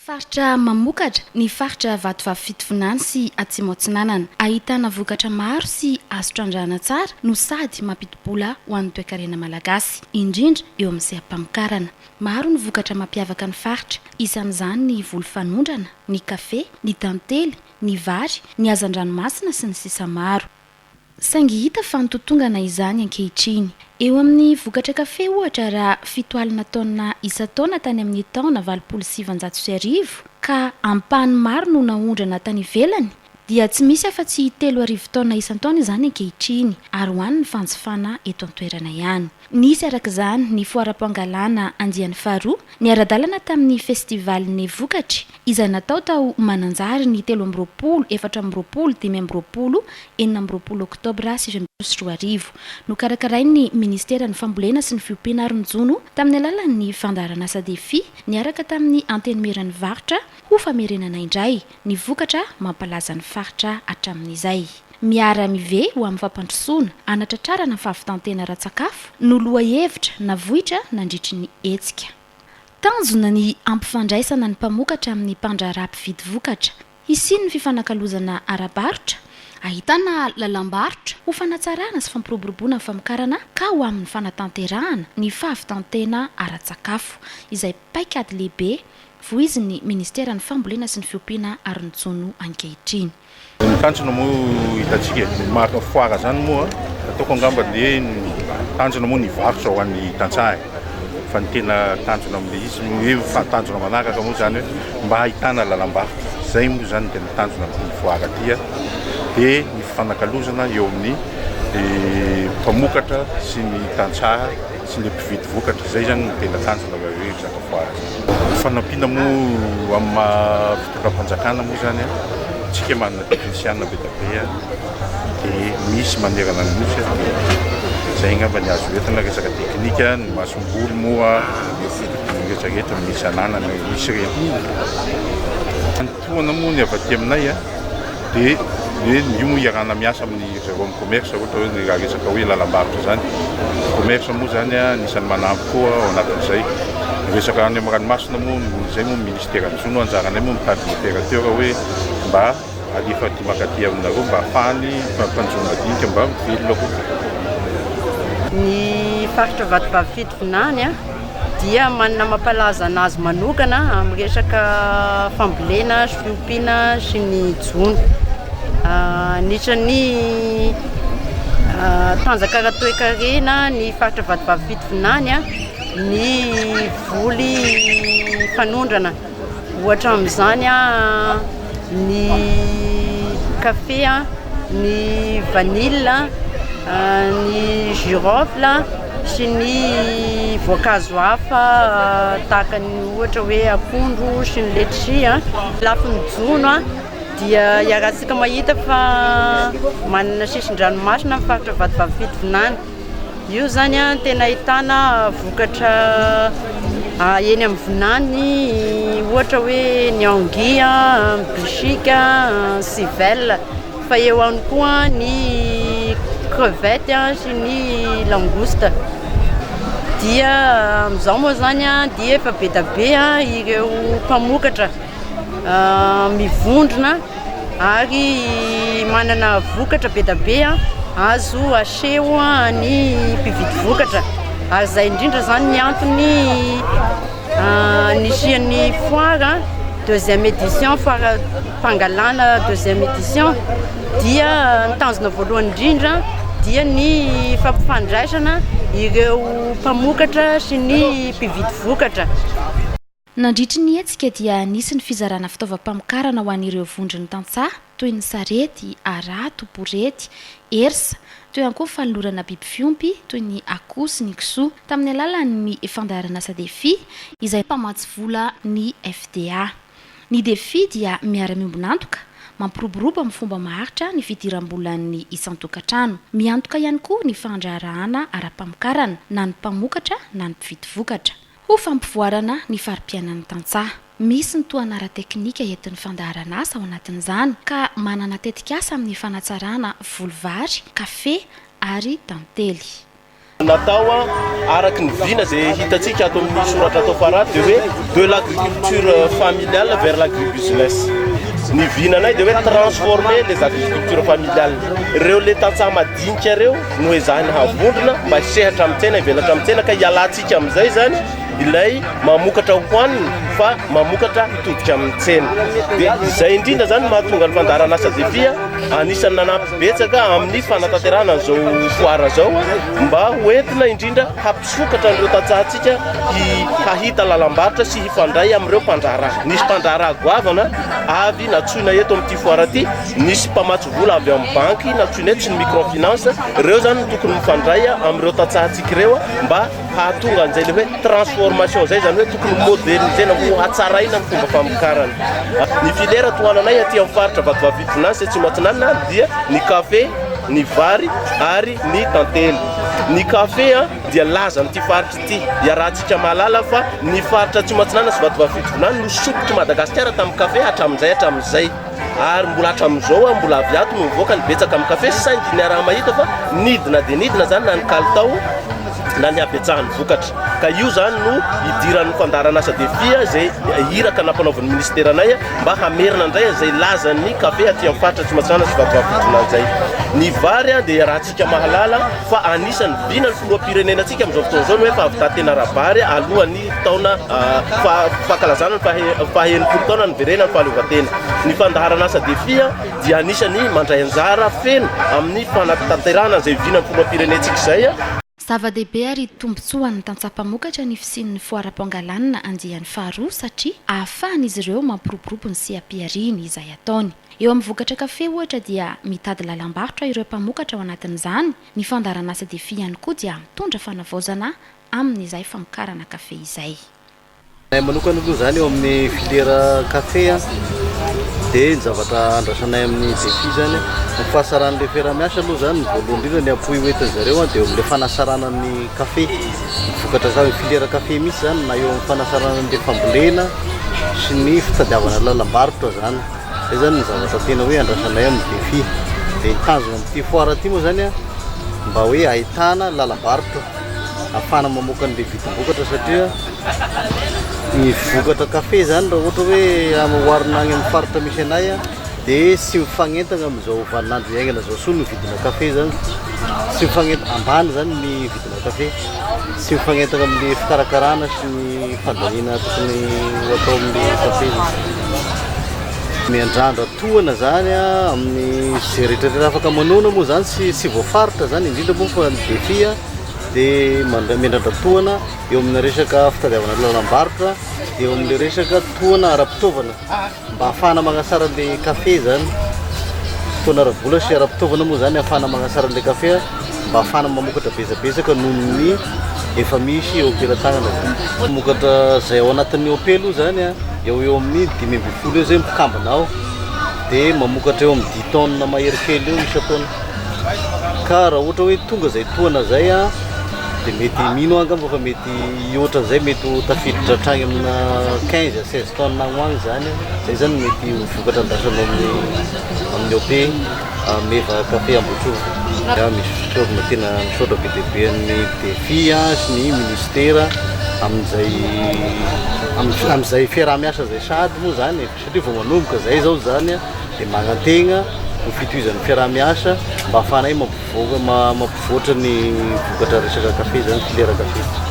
Faritra mamokatra, ny faritra Vatovavy Fitovinany sy Atsimo Atsinanana. Ahitana vokatra maro sy azo trandrahana tsara no sady mampidi-bola ho an'ny toekarena malagasy, indrindra eo amin'ny seha-pamokarana. Maro ny vokatra mampiavaka ny faritra, isan'izany ny voly fanondrana, ny kafe, ny tantely, ny vary, ny hazan-dranomasina sy ny sisa maro. Saingy hita fa nitotongana izany ankehitriny. Eo amin'ny vokatra kafe, ohatra, raha fito alina taonina isan-taona tany amin'ny taona valopolo sy sivinjato sy arivo, ka ampahany maro no naondrana tany ivelany, dia tsy misy afa-tsy telo arivo taonina isan-taona izany ankehitriny, ary hohanin'ny fanjifana eto an-toerana ihany. Nisy araka izany ny foaram-pangalana andiany faharoa niara-dalana tamin'ny festivalin'ny vokatry, izay natao tao Mananjary ny telo amby roapolo, efatra amby roapolo, dimy amby roapolo, enina amby roapolo oktobra sivy amby roapolo sy roa arivo. Nokarakarain'ny Ministeran'ny Fambolena sy ny Fiompiana ary ny Jono tamin'ny alalan'ny fandaharanasa Defi niaraka tamin'ny Antenimieran'ny Varotra ho famerenana indray, ny vokatra mampalaza ny faritra hatramin'izay. Miara-mive ho amin'ny fampandrosoana, hanatratrarana ny fahavitan-tena ara-tsakafo no lohahevitra navoitra nandritry ny hetsika. Tanjona ny hampifandraisana ny mpamokatra amin'ny mpandraharaha mpividy vokatra, hisian'ny fifanakalozana ara-barotra, ahitana lalam-barotra ho fanatsarana sy fampiroboroboana ny famokarana ka ho amin'ny fanatanterahana ny fahavitan-tena ara-tsakafo, izay paikady lehibe Voizin'ny Ministeran'ny Fambolena sy ny Fiompiana ary ny Jono ankehitriny. Ny tanjona moa hitantsika e, ny marina foara izany moa ataoko angamba dia ny tanjona moa ny hivarotra ho an'ny tantsaha e, fa ny tena tanjona amin'ilay izy ny hoe fahatanjona manaraka moa izany hoe mba hahitana lalam-barotra, izay moa izany no tena tanjona amin'ity foara ity a, dia ny fifanakalozana eo amin'ny mpamokatra sy ny tantsaha. sy ilay mpividy vokatra. Izay izany no tena tanjona raha hoe resaka foara izany. Ny fanampiana moa amin'ny maha fitondram-panjakana moa izany an, isika manana teknisiana be dia be an, dia misy manerana ny Nosy an, dia izay angamba ny azo entina resaka teknika, ny masomboly moa dia rehetra rehetra misy ananana misy ireny. Tohana moa ny avy aty aminay a, dia ny hoe ny io moa iarahana miasa amin'ny avy ao amin'ny commerce ohatra hoe ny raha resaka hoe lalam-barotra izany. Ny commerce moa izany a, anisan'ny manampy koa ao anatin'izay. Ny resaka any amin'ny ranomasina moa, izay moa ny minisiteran'ny jono, anjaranay moa mitady ny opérateur hoe mba alefa aty mankaty aminareo mba hahafahany mpanjono madinika mba velona koa. Ny faritra Vatovavy Fitovinany a. dia manana mampalaza anazy manokana amin'ny resaka fambolena sy fiompiana sy ny jono. Ah, anisan'ny ah, tanjaka ara-toekarena ny faritra Vatovavy Fitovinany ah, ny voly fanondrana. Ohatra amin'izany ny kafe, ny vanille, ny girofle sy ny voankazo hafa tahaka ny ohatra hoe akondro sy ny letchi. Ny lafiny jono dia iarahantsika mahita fa manana sisin-dranomasina ny faritra Vatovavy Fitovinany. Io izany an, tena ahitana vokatra eny amin'ny vinany, ohatra hoe ny angy, bishik, civel. Fa eo ihany koa ny crevette sy ny langouste. Dia amin'izao moa izany dia efa be dia be ireo mpamokatra. mivondrona ary manana vokatra be dia be azo aseho ny mpividy vokatra ary izay indrindra izany ny antony nisian'ny foire deuxième édition, foire fangalana deuxième édition dia ny tanjona voalohany indrindra dia ny fampifandraisana ireo mpamokatra sy ny mpividy vokatra. Nandritry ny hetsika dia nisy ny fizarana fitaovam-pamokarana ho an'ireo vondron'ny tantsaha toy ny sarety, harato, borety, hersa, teo ihany koa ny fanolorana biby fiompy toy ny akoho sy ny kisoa tamin'ny alalan'ny fandaharan'asa Defi izay mpamatsy vola ny FDA. Ny Defi dia miara-miombon'antoka, mampiroborobo amin'ny fomba maharitra ny fidiram-bolan'ny isan-tokantrano. Miantoka ihany koa ny fahandraharahana ara-pamokarana na ny mpamokatra na ny mpividy vokatra. Ho fampivoarana ny fari-piainan'ny tantsaha. Misy ny tohana ara-teknika entin'ny fandaharan'asa ao anatin'izany ka manana tetikasa amin'ny fanatsarana voly vary, kafe ary tantely. Natao araka ny vina izay hitantsika ato amin'ny soratra ato am-para dia hoe de l'agriculture familiale vers l'agribusiness. Ny vinanay dia hoe transformer les agricultures familiales. Ireo ilay tantsaha madinika ireo no ezahina havondrona mba hisehatra amin'ny tsena, hivelatra amin'ny tsena ka hialantsika. Midika amin'izay izany ilay mamokatra hohanina fa mamokatra hitodika amin'ny tsena. Dia izay indrindra izany no mahatonga ny fandaharan'asa Defia anisan'ny nanampy betsaka amin'ny fanatanterahana an'izao foara izao mba ho entina indrindra hampisokatra an'ireo tantsahantsika hahita lalam-barotra sy hifandray amin'ireo mpandraharaha. Nisy mpandraharaha goavana avy natsoina eto amin'ity foara ity. Nisy mpamatsy vola avy amin'ny banky nantsoinay tsy ny microfinance, ireo izany no tokony mifandray amin'ireo tantsahantsika ireo mba hahatonga an'izay ilay hoe transformation izay, izany hoe tokony moderniser-na ho hatsaraina ny fomba famokarana. Ny filière tohananay aty amin'ny faritra Vatovavy-Vitorina any sy Atsimo Atsinanana any dia ny kafe, ny vary ary ny tantely. Ny kafe dia laza amin'ity faritra ity, iarahantsika mahalala fa ny faritra Atsimo Atsinanana sy Vatovavy-Vitorina any no sompitry Madagasikara tamin'ny kafe hatramin'izay hatramin'izay. ary mbola hatramin'izao a mbola avy ato no mivoaka ny betsaka amin'ny kafe sy saingy niaraha-mahita fa nidina dia nidina izany na ny kalitao na ny habetsahan'ny vokatra ka io izany no hidiran'ny fandaharanasa defia izay iraka nampanaovan'ny ministera anay mba hamerina indray izay lazan'ny kafe aty amin'ny faritra Atsimon'Antsiranana sy Vatovavy Botolanjay ny vary dia raha Isika mahalala fa anisan'ny vinan'ny filoham-pirenenantsika amin'izao fotoana izao ny hoe fahavità tena ara-bary alohan'ny taona fankalazana ny faha enimpolo taona niverenan'ny fahaleovantena. Ny fandaharan'asa Defia dia anisan'ny mandray anjara feno amin'ny fanatanterahana izay vinan'ny filoham-pirenentsika izay. Zava-dehibe ary tombontsoa ho an'ny tantsaha mpamokatra ny fisian'ny foaram-pangalanana andiany faharoa satria ahafahan'izy ireo mampiroborobo ny seha-pihariany izay ataony. Eo amin'ny vokatra kafe ohatra dia mitady lalam-barotra ireo mpamokatra ao anatin'izany, ny fandaharan'asa Defi ihany koa dia mitondra fanavaozana amin'izay famokarana kafe izay. Ny ahy manokana aloha izany eo amin'ny filiera kafe dia ny zavatra andrasanay amin'ny Defi izany ny fahasaran'ilay fiaraha-miasa aloha izany ny voalohany indrindra ny appui hoentin'ny zareo dia eo amin'ilay fanasarana ny kafe, ny vokatra ka- filiera kafe mihitsy izany na eo amin'ny fanasarana an'ilay fambolena sy ny fitadiavana lalam-barotra izany. Zay zany ny zavatra tena hoe andrasanay amin'ny Defi. Dia hitazona amin'ity foire ity moa zany mba hoe ahitana lalabarotra afahana mamoaka an'ilay vidim-bokatra satria ny vokatra kafe zany raha ohatra hoe oharina any amin'ny faritra misy anay dia tsy mifanentana amin'izao vaninandro iainana izao soa ny vidina kafe zany. Tsy mifanentana, ambany zany ny vidina kafe. Mankafy. Tsy mifanentana amin'ny fikarakarana sy ny fandaniana tokony ho atao amin'ny kafe izy. Miandrandra tohana zany amin'ny ze rehetrarehetra afaka manoana moa zany tsy tsy voafaritra zany indrindra moa fa ny defi dia manda- miandrandra tohana eo amina resaka fitadiavana lalam-barotra dia eo amin'ilay resaka tohana ara-pitaovana. Mba hahafahana manatsara an'ilay kafe izany, fotoana ara-bola sy ara-pitaovana moa izany hahafahana manatsara an'ilay kafe, mba hahafahana mamokatra betsabetsaka noho ny efa misy eo am-pelantanana izany. Mpamokatra izay ao anatin'ny OP aloha izany a, eo ho eo amin'ny dimy ambin'ny folo eo izay mpikambana ao, dia mamokatra eo amin'ny dix tonnes mahery kely eo isan-taona. Ka raha ohatra hoe tonga izay tohana izay a, dia mety, mino aho angamba fa mety. Ny ohatran'izay mety ho tafiditra hatrany amina quinze à seize tonnes agny ho agny zany an, zay zany mety ho vokatra andrasana amin'ny amin'ny OP meva café Ambohitrova. Za misy fisaorana tena misaotra be dia be an'ny DEFI sy ny Ministera amin'izay amin'izay fiaraha-miasa izay sahady moa zany e. Satria vao manomboka izay izao izany dia manantegna ho fitohizan'ny fiaraha-miasa mba hahafahanay mampivoaka mampivoatra ny vokatra resaka kafe izany, filière kafe.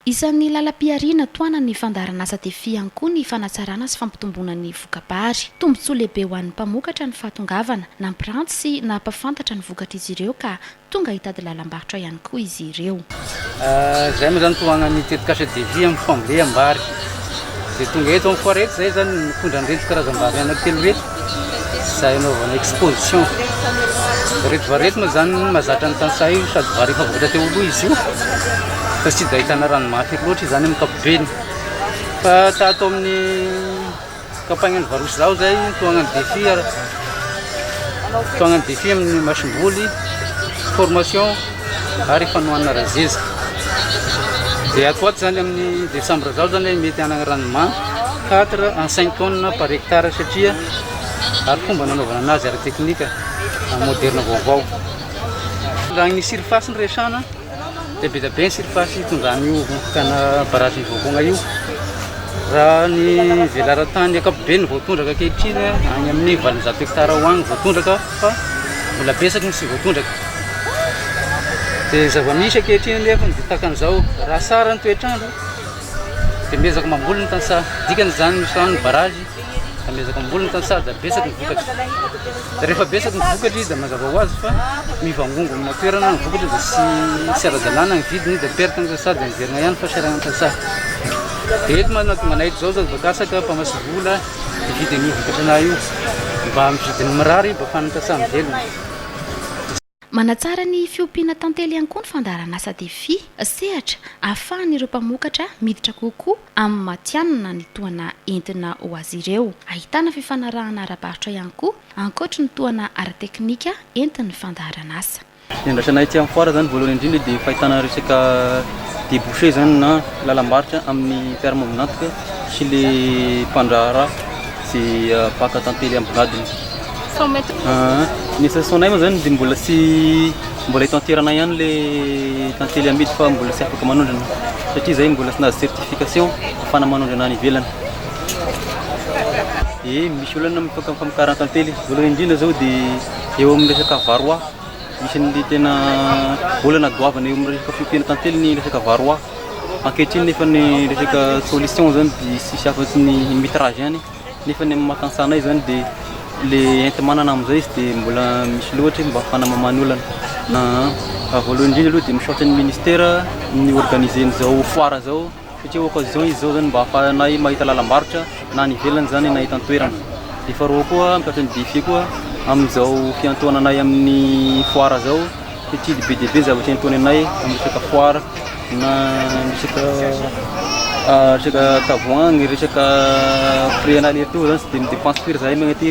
Isan'ny lalam-pihariana tohanan'ny fandaharanasa Defi ihany koa ny fanatsarana sy fampitomboana ny voka-bary. Tombontsoa lehibe ho an'ny mpamokatra ny fahatongavana, nampiranty sy nampahafantatra ny vokatr'izy ireo ka tonga hitady lalam-barotra ihany koa izy ireo. Izay moa izany tohagnan'ny tetikasa Devis amin'ny fambolem-bary izay tonga eto amin'ny foire eto, izay izany ny mitondra an'ireto karazam-bary anankitelo ireto izay anaovana exposition. Ireto vary ireto moa izany mahazatra ny tantsaha io sady vary efa vokatra teo aloha izy io fa tsy dia ahitana rano mafy ery loatra izany amin'ny ankapobeny fa tato amin'ny Tsy campagne an'i Varosh Zaho zay mitohagna ny défi ara mitohagna ny défi amin'ny masom-boly, formation ary fanohanana razeza. Dia ato ho ato zany amin'ny décembre zao zany mety hanagna rendement 4 à 5 tonnes par hectare satria ary fomba nanaovana anazy ara-teknika moderne vaovao. Raha ny surface no resahana. dia be dia be ny surface hitondran'io vondron-kana barazin'i Voakogna io. Raha ny velaran-tany ankapobeny ny voatondraka ankehitriny any amin'ny valonjato hektara ho any voatondraka fa mbola betsaka no tsy voatondraka. Dia zava-misy ankehitriny anefa ny ditakan'izao raha sara ny toetr'andro dia miezaka mamboly ny tantsaha. Dikany izany misy rano ny barazy. Amezako amboly ny tany sady betsaka ny vokatra. Rehefa betsaka ny vokatra izy dia mazava ho azy fa mivangongo amina toerana ny vokatra dia sy sy ara-dalàna ny vidiny dia perte ny tantsaha dia miverina ihany fa seranan'ny tantsaha. Dia eto manana tonga anay izao izao bakasaka mpamasy vola hividy an'io vokatra anay io mba amin'ny vidiny mirary mba afahan'ny tantsaha mivelona. Manatsara ny fiompiana tantely ihany koa ny fandaharan'asa Defi, sehatra ahafahan'ireo mpamokatra miditra kokoa amin'ny matihanina ny tohana entina ho azy ireo. Ahitana fifanarahana ara-barotra ihany koa, ankoatry ny tohana ara-teknika entin'ny fandaharan'asa. Ny andrasanay aty amin'ny foara izany voalohany indrindra dia fahitana resaka débouché izany na lalam-barotra amin'ny mpiara-miombon'antoka sy ilay mpandraharaha. Tsy afaka tantely amin'ny gadona. Cent mètres. Ah, ny association-nay moa zany dia mbola tsy mbola hitanterana ihany le tantely amidy fa mbola tsy afaka manondrana satria zay mbola tsy nahazo certification ahafahana manondrana any ivelany. Ye, misy olana amin'ny faka- famokarana tantely. Voalohany indrindra zao dia eo amin'ny resaka varroa, isan'ny tena olana goavana eo amin'ny resaka fiompiana tantely ny resaka varroa. Ankehitriny nefa ny resaka solution izany dia tsisy afatsy ny mitrazy ihany nefa ny amin'ny maha tantsaha anay izany dia le enti-manana amin'izay izy dia mbola misy loatra mba fanamamana olana. An, voalohany indrindra aloha dia misaotra ny ministera ny organiser an'izao foire izao satria occasion izy izao izany mba ahafahanay mahita lalam-barotra na any ivelany izany na eto an-toerana. Dia faharoa koa misaotra ny DIFE koa amin'izao fiantohana anay amin'ny foire izao. Titily be dia be zavatra entoany anay amin'ny resaka foara na ny resaka resaka tavoahangy, ny resaka frais anay aller-retour zany tsy dia mi-depense firy zahay mankatỳ.